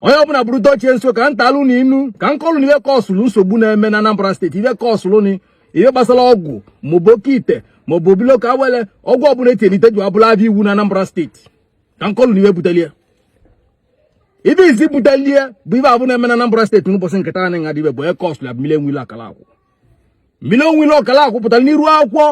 onye ọbụla bụrụ dochie nso ka m tụalụ unu inu ka m kọọlụ unu ive kọsụlụ nsogbu na-eme na Anambra steeti ive kọsụlụ na ihe gbasara ọgwụ maọbụ oke ite maọbụ obilo ka awele ọgwụ ọbụla e tieli ite ji abụla avịa iwu na Anambra steeti ka m kọọlụ unu ive butelie ive izizi butelie bụ ive avụ na-eme na Anambra steeti n'ụbọchị nke taa anyị nọ dibịa bụ onye kọsụlụ ya bụ Mmiri Enwe Ilo Ọkala Akwụ Mmiri Enwe Ilo Ọkala Akwụ pụtara n'iru akwụkwọ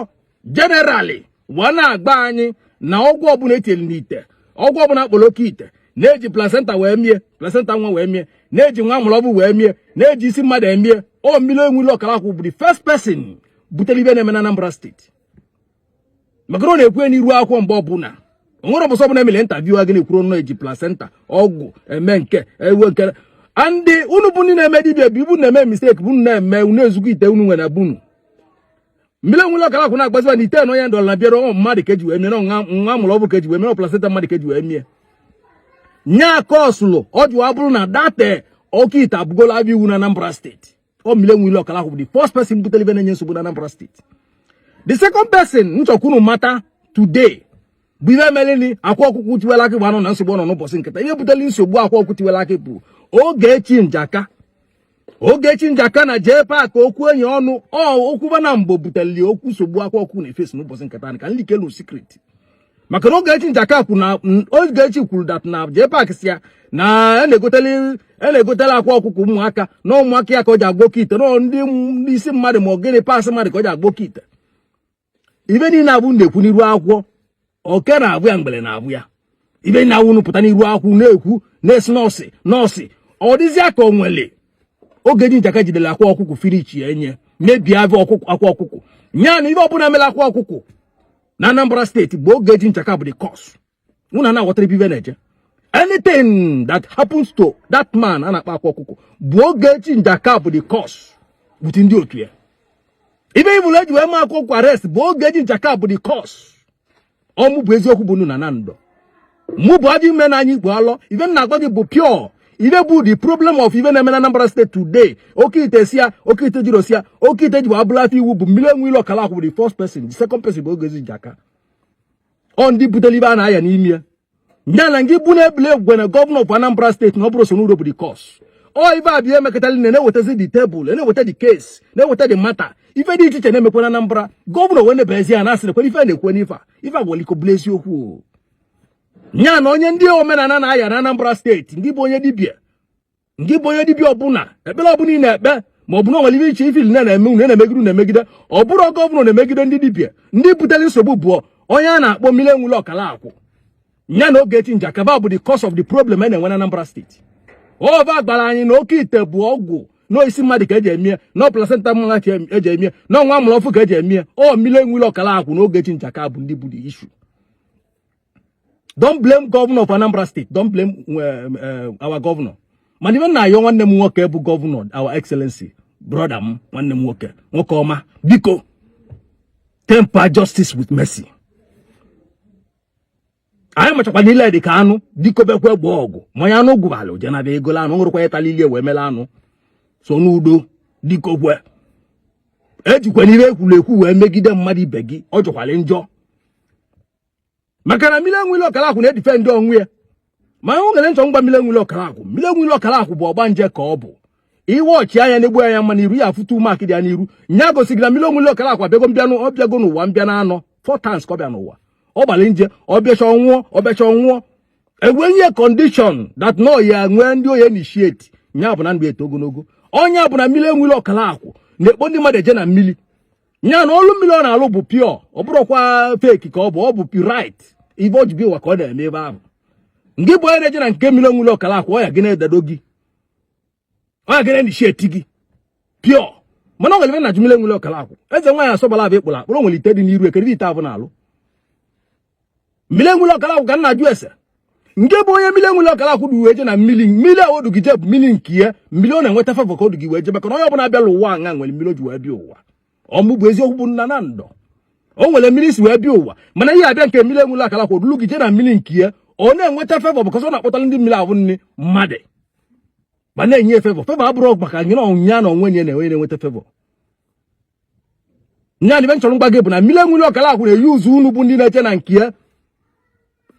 generally wee na-agwa anyị na ọgwụ ọbụla etinyere n'ite ọgwụ ọbụla a kpọrọ oke ite na-eji placenta wee mie placenta nwa wee mie na-eji nwa a mụrụ ọvụ wee mie na-eji isi mmadụ emie ọ Mmiri Enwe Ilo Ọkala Akwụ bụ the first person butere ive na-eme na Anambra steeti maka na ọ na-ekwu n'iru akwụkwọ mgbe ọbụla onwere ọbụsọ ọbụla emere interview a gị na-ekwuru ọnụ eji placenta ọgwụ eme nke ewe nke a ndị unu bụ ndị na-eme dibịa bụ ebe unu na-eme mistake bụ na-eme unu ezukọ ite unu nwere bunu Mmiri Enwe Ilo Ọkala Akwụ na-agwaziba na ite na onye ndọrọ na bịara ọnwa mmadụ ka eji wee mie na nwa a mụrụ ọvụ ka eji wee mie na placenta mmadụ ka eji wee mie nya kọsụlụ o ji wee bụrụ na that oke ite abụgola avịa iwu na Anambra steeti ọ Mmiri Enwe Ilo Ọkala Akwụ bụ the first person butere ive na-enye nsogbu na Anambra steeti the second person m chọ ka unu mata today bụ ive meleni Akwa Ọkụkọ Tiwala Akị ji banye na nsogbu ọ nọ n'ụbọchị nke taa ihe buteli nsogbu Akwa Ọkụkọ Tiwala Akị bụ Ogechi Njaka Ogechi Njaka na JPAC okwu enyi ọnụ okwuba na mgbo buteli okwu nsogbu Akwa Ọkụkọ na-eface n'ụbọchị nke taa ka m leakelu secret maka na Ogechi Njaka kwuru na Ogechi kwuru that na JPAC sị ya na e na-egoteli e na-egotela Akwa Ọkụkọ ụmụaka na ụmụaka ya ka o ji agwọ oke ite na ndị isi mmadụ ma ọ gịnị parts mmadụ ka o ji agwọ oke ite ive niile awụ unu na-ekwu n'iru akwụkwọ oke na-abụ ya ngwele na-abụ ya ive niile awụ unu pụta n'iru akwụkwọ na-ekwu na-esi nọọsị nọọsị ọ dịzịa ka o nwere Ogechi Njaka jidere Akwa Ọkụkọ finish ya enye mebie avịa Ọkụkọ Akwa Ọkụkọ nya na ive ọbụla mere Akwa Ọkụkọ na Anambra steeti bụ Ogechi Njaka bụ the cause unu ana-aghọta ebe ive na-eje anything that happens to that man a na-akpọ Akwa Ọkụkọ bụ Ogechi Njaka bụ the cause with ndị otu ya ive ọbụla eji wee mee Akwa Ọkụkọ arrest bụ Ogechi Njaka bụ the cause ọ mụ bụ eziokwu bụ nnu na na ndụ mụ bụ ajọ ive na-anyị Igbo alọ ive m na-agwa gị bụ pure ive bụ the problem of ive na-eme na Anambra steeti today oke ite si ya oke ite jiri osi ya oke ite ji bụ abụla avịa iwu bụ Mmiri Enwe Ilo Ọkala Akwụ bụ the first person the second person bụ Ogechi Njaka ọ ndị butere ive a na-aya n'ime ya ya na ngị bụ na ebule egwugwe na gọvanọ of Anambra steeti na ọ bụrọ Soludo bụ the cause ọ ive avụ emekọtali na na-ewetazi the table na-eweta the case na-eweta the matter ife dị iche iche na-emekwa na Anambra gọvanọ wee nebezi ya na asị nekwe ife a na-ekwe n'ife a ife agwara iko bụla eziokwu ya na onye ndị omenala na-aya na Anambra steeti ngị bụ onye dibịa ngị bụ onye dibịa ọbụla ekpere ọbụla ị na-ekpe ma ọ bụ na nwere iche i feel na na-eme unu na-emegide na-emegide ọ bụrọ gọvanọ na-emegide ndị dibịa ndị butere nsogbu bụ onye a na-akpọ mmiri enweilo ọkala akwụ ya na Ogechi Njaka va bụ the cause of the problem a na-enwe na Anambra steeti ọ va gwara anyị na oke ite bụ ọgwụ na ọ isi mmadụ ka eji emie na ọ placenta mmadụ ka eji emie na ọ nwa a mụrụ ọfụụ ka eji emie ọ mmiri enweilo ọkala akwụ na Ogechi Njaka va bụ ndị bụ the issue don't blame governor of Anambra State don't blame eh, eh, our governor mana ive m na-ayọ nwanne m nwoke bụ governor our excellency brother m nwanne m nwoke nwoke ọma biko temper justice with mercy anyị machakwa na ile dị ka anụ biko bekwa egbe ọgụ ma onye anụ gụbala o jee n'avịa egola anụ na ọ bụrọkwa ya tala ile ye wee mela anụ so n'udo diko kwe ejikwana ive ekwuru ekwu wee megide mmadụ ibe gị ọ jọkwara njọ maka na mmiri enweilo ọkala akwụ na-edefend onwe ya ma ahụ gere m chọ m gwa mmiri enweilo ọkala akwụ mmiri enweilo ọkala akwụ bụ ọgbanje ka ọ bụ iwe ọchịagha na-egbu anya mma n'iru ya afụta mark dị ya n'iru nya gosiri na mmiri enweilo ọkala akwụ abịago mbịa anọ ọ bịago n'ụwa mbịa na anọ four times ka ọ bịa n'ụwa ọ gbara nje ọ bịachaa ọ nwụọ ọ bịachaa ọ nwụọ e wee nye condition that na ọ ya-enwe ndị ọ ya-initiate nya bụ na ndụ eto ogologo ọ nya bụ na mmiri enweilo ọkala akwụ na-ekpo ndị mmadụ eje na mmiri nya na ọlụ mmiri ọ na-alụ bụ pure ọ bụrọkwa fake ka ọ bụ ọ bụ pure right ive o ji bịa ụwa ka ọ na-eme ebe ahụ ngị bụ onye na-eje na nke mmiri enweilo ọkala akwụ ọ ya gị na-edado gị ọ ya gị na-initiate gị pure mana ọ nwere ive m na-ajụ mmiri enweilo ọkala akwụ eze nwaanyị asọbala avụ ị kpụrụ akpụrụ nwere ite dị n'iru ekere ite avụ na-alụ mmiri enweilo ọkala akwụ ka m na-ajụ ese ngị bụ onye mmiri enweilo ọkala akwụ du wee je na mmiri mmiri a o du gị je bụ mmiri nke ya mmiri ọ na-enweta favọ ka o du gị wee je maka na onye ọbụla bịara ụwa anya nwere mmiri o ji wee bịa ụwa ọ mụ bụ eziokwu bụ nna na ndụ o nwere mmiri m si wee bịa ụwa mana ị ya-abịa nke mmiri enweilo ọkala akwụ o dulu gị je na mmiri nke ya ọ na-enweta favọ because ọ na-akpọtara ndị mmiri ahụ ndị mmadụ va na-enye favọ favọ abụrọ maka ngị na ọ bụ nya na onwe nya na-enwe na-enweta favọ nya na ive m chọrọ m gwa gị bụ na mmiri enweilo ọkala akwụ na-eyuzu unu bụ ndị na-eje na nke ya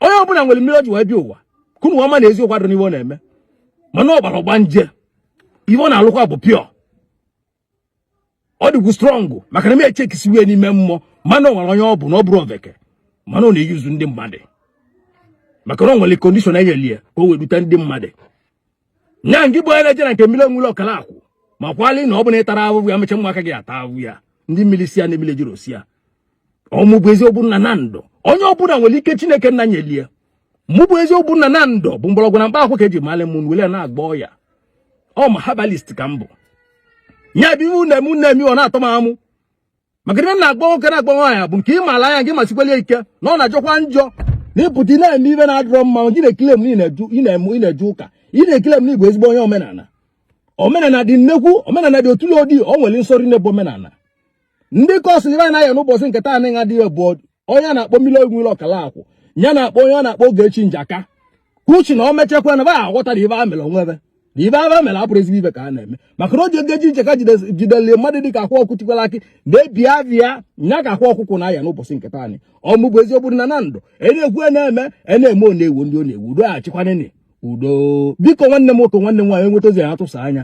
onye ọbụla nwere mmiri o ji wee bịa ụwa ka unu ma na eziokwu adịrọ n'ihe ọ na-eme mana ọ gbara ọgbanje ive ọ na-alụkwa bụ pure ọ dịkwu strong maka na m echekisiwe n'ime mmụọ mana ọ nwere onye ọ bụ na ọ bụrọ oveke mana ọ na-eyuzu ndị mmadụ maka na ọ nwere condition e nyeli ya ka o wee dute ndị mmadụ nya ngị bụ onye na-eje na nke mmiri enweilo ọkala akwụ makwali na ọ bụ na ị tarọ ahụhụ ya mecha ụmụaka gị ata ahụhụ ya ndị mmiri si ya na mmiri jiri osi ya ọ mụ bụ eziokwu nna na ndụ onye ọbụla nwere ike chineke nna nyelie mụ bụ eziokwu nna na ndụ bụ mgbọrọgwụ na mkpa akwụ ka eji mali m wele na-agwọ ọya ọ ma herbalist ka m bụ nya bụ ive unu na-eme na-eme ọ na-atọ m amụ maka ive m na-agwa nwoke na-agwa nwaanyị bụ nke ị maara nya gị masikwalie ike na ọ na-ajọkwa njọ na ị pụta ị na-eme ive na-adịrọ mma gị na-ekile m ị na-eje ụka ị na-ekile m ị bụ ezigbo onye omenala omenala dị nnekwu omenala dị otule odi o nwere nsọrọ n'ebe omenala ndị kọsụ ive a na-aya n'ụbọchị nke taa anaghị adịghị bụ onye a na-akpọ Mmiri Enwe Ilo Ọkalakwu ya na-akpọ onye a na-akpọ Ogechi Njaka uchi na o mechakwa na va aghọta na ive va mere onwe va na ive va mere abụrọ ezigbo ive ka a na-eme maka na o ji Ogechi Njaka jideli mmadụ dị ka Akwa Ọkụkọ Tiwara Akị na-ebi avịa nya ka Akwa Ọkụkọ na-aya n'ụbọchị nke taanị ọ mụ bụ eziokwu na na ndụ e na-ekwu e na-eme e na-eme ọ na-ewu ndị ọ na-ewu udo achịkwanene udo biko nwanne m nwoke nwanne m nwaanyị i nweta ozi ya atụsa nya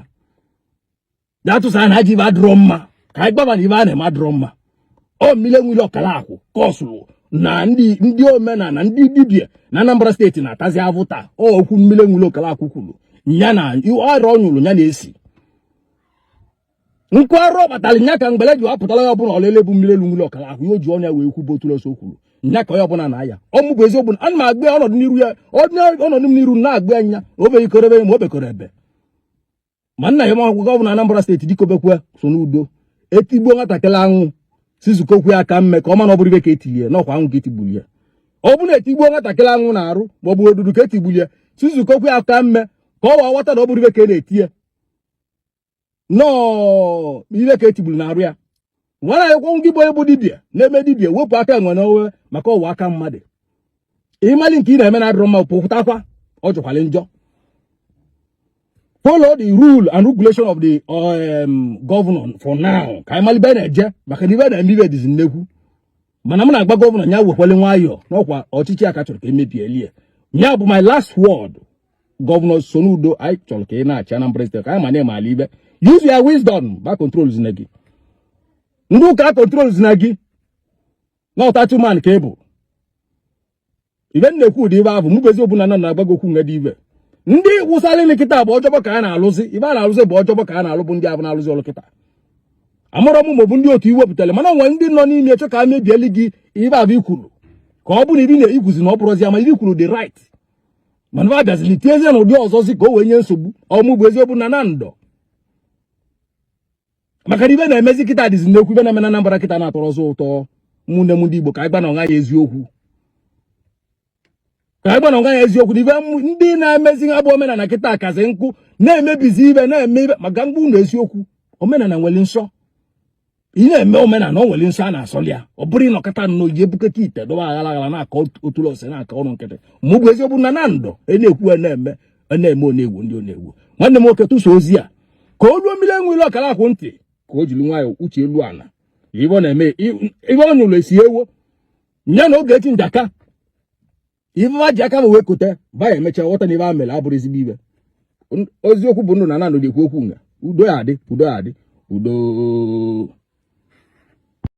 bịa tụsa na ajọ ive adịrọ mma ka anyị gwa va na ive va na-eme adịrọ mma ọ Mmiri Enwe Ilo Ọkalakwu kọsụrụ na ndị ndị omenala ndị dibia na Anambra steeti na-atazi avụ taa okwu Mmiri Enwe Ilo Ọkalakwu kwuru ya na arụ ọ nyụrụ ya na-esi nkụ arụ ọ kpatara nya ka mgbele ji wapụtara ya ọbụla ọlele bụ Mmiri Enwe Ilo Ọkalakwu ya o ji ọnụ ya wee kwu bụ otuloso kwuru nya ka onye ọbụla na-aya ọ mụ bụ eziokwu ana m agwa ọnọdụ n'iru ya ọnọdụ m n'iru na-agwa nya o beghị korebe ma o bekọrọ ebe ma nna ya makwụkwọ gọvanọ Anambra steeti dikobekwe Soludo e tigbuo nwatakịrị anwụ sizukokwu ya aka mme ka ọ ma na ọ bụrọ ive ka e tilie na ọkwa anwụ ka e tigburu ya ọ bụrụ na e tigbuo nwatakịrị anwụ n'arụ ma ọ bụ odudu ka e tigburu ya sizukokwu ya aka mme ka o wee ghọta na ọ bụrọ ive ka e na-eti ya na ọ ive ka e tigburu n'arụ ya nwere ekwenwu gị bụ onye bụ dibia na-eme dibia wepụ aka enwe n'ove maka ọ ghọọ aka mmadụ ị malị nke ị na-eme na adịrọ mma pụtakwa ọ jọkwala njọ follow the rule and regulation of the governor for now ka anyị malị ive na-eje maka na ive na-eme ive dịzi nnekwu mana m na-agwa gọvanọ ya wekwele nwayọọ na ọkwa ọchịchị ya ka a chọrọ ka e mebielie ya bụ my last word gọvanọ Soludo anyị chọrọ ka ị na-achị Anambra steeti ka anyị ma na ị maalụ ive use your wisdom va controlzina gị ndị ụka controlzina gị na ọ title man ka ị bụ ive m na-ekwu ụdị ive ahụ mụ bụ eziokwu na ndụ na-agwa gị okwu nga dị ive ndị wụsara ile kịta bụ ọ job ka a na-alụzi ive a na-alụzi bụ ọ job ka a na-alụ bụ ndị avụ na-alụzi ọlụ kịta amarọ m ma ọ bụ ndị otu i wepụtara mana o nwe ndị nọ n'ime chọ ka e mebieli gị ive avụ i kwuru ka ọ bụ na ive ị na-ekwuzi na ọ bụrọzi ama ive i kwuru dị right mana va bịazili tinyezie nya ụdị ọzọzi ka o wee nye nsogbu ọ mụ bụ eziokwu na na ndụ maka na ive na-emezi kịta dịzi nnekwu ive na-eme na Anambra kịta na atọrọzi ụtọ ụmụnne m ndị Igbo ka anyị gwanụ onwe anyị eziokwu ka anyị gwanụ onwe anyị eziokwu na ive ndị na-emezi nya bụ omenala kịta kazi nkụ na-emebizi ive na-emebi ive maka mgbe ụlọ eziokwu omenala nwere nsọ ị na-eme omenala o nwere nsọ a na-asọli ya ọ bụrọ ị nọkata nnọọ je bukata ite dọba aghara aghara na-akọ otulose na-akọ ọrụ nkịtị mụ bụ eziokwu na na ndụ e na-ekwu na-eme ọ na-eme ọ na-ewu ndị ọ na-ewu nwanne m nwoke tụsa ozi a ka o ruo mmiri enwere ọkara akwụ ntị ka o jiri nwayọọ uche elu ala ife ọ na-eme ife ọ nyụrụ esi ewo nya na Ogechi Njaka ife ha ji aka ha wee kote ha ya-emechaa ghọta na ife ha mere abụrọ ezigbo ife eziokwu bụ ndụ na nanụ na-ekwu okwu nga udo ya adị udo ya adị udo